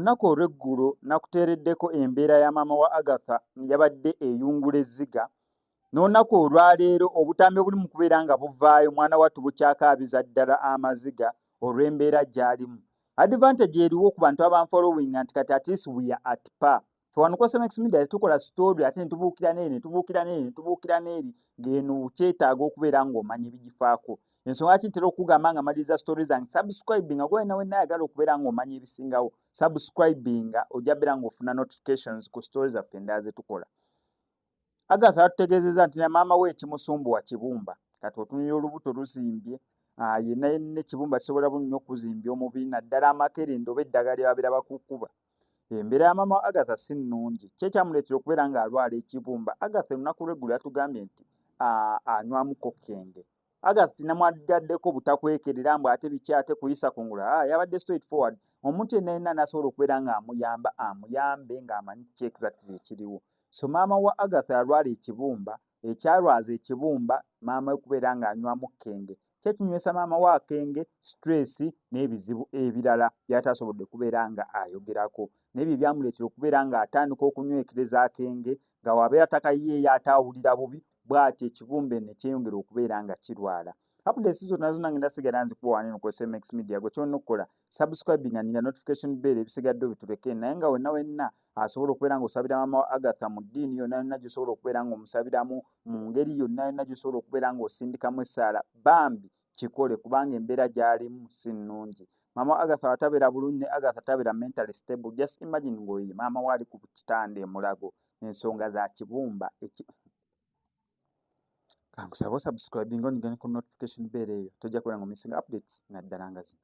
olunaku olw'eggulo nakuteereddeko embeera ya maama wa agatha yabadde eyungula ezziga N'olunaku olwaleero obutambi obuli mu kubeera nga buvaayo mwana wattu bukyakaabiza ddala amaziga olw'embeera gy'alimu. Advantage eriwo ku bantu abanfollowinga nti kati at least we are at par. Fe wano ku SMX Media tetukola story ate ne tubuukira n'eri ne tubuukira n'eri ne tubuukira n'eri ng'eno kyetaaga okubeera ng'omanya ebigifaako. Ensonga lwaki ntera okugamba nga maliriza story zange subscribinga gwe wena wenna ayagala okubeera ng'omanya ebisingawo subscribinga ojja beera ng'ofuna notifications ku story zaffe endala ze tukola. Agatha yatutegeezezza nti na maama we ekimusumbuwa kibumba kati otunulira olubuto luzimbye ah, yenna yenna ekibumba kisobola bu nnyo okuzimbya omubiri naddala amakerenda oba eddagala lye babeera bakukuba embeera ya maama agatha si nnungi kye kyamuleetera okubeera ng'alwala ekibumba agatha olunaku lw'eggulo yatugambye nti ah, anywamu kokkenge ah, Agath tinamwaddaddeko butakwekerera mbu ate biki ate kuyisa kungula ah, yabadde straight forward omuntu yenna yenna nasobola okubeera ng'amuyamba amuyambe ng'amanyi kiki exactly ekiriwo so maama wa agath alwala ekibumba ekyalwaza ekibumba maama we kubeera ng'anywamu kenge kyekinywesa maama wa kenge stress n'ebizibu ebirala byatasobodde kubeera nga ayogerako naye bye byamuleetera okubeera ng'atandika okunywekereza kenge nga wabeera takayiyeeyo ataawulira bubi bwati ekibumbe ne kyeyongera okubeera nga kirwala updates zonna zonna ngenda sigala nzikuwa wani no kwesa mx media gwe kyonna okukola subscribing and nga notification bell ebisigadde obituleke naye nga wenna wenna asobola okubeera nga osabira mama wa agatha mu ddiini yonna yonna gyosobola okubeera nga omusabiramu mu ngeri yonna yonna gyosobola okubeera nga osindikamu essaala bambi kikole kubanga embeera gyalimu si nnungi mama wa agatha watabeera bulungi ne agatha tabeera mentally stable just imagine ngaoye maama waali ku kitanda emulago ensonga za kibumba kankusaba osubscribing onigane ku notification bell eyo tojja kubera nga missing updates naddala nga zino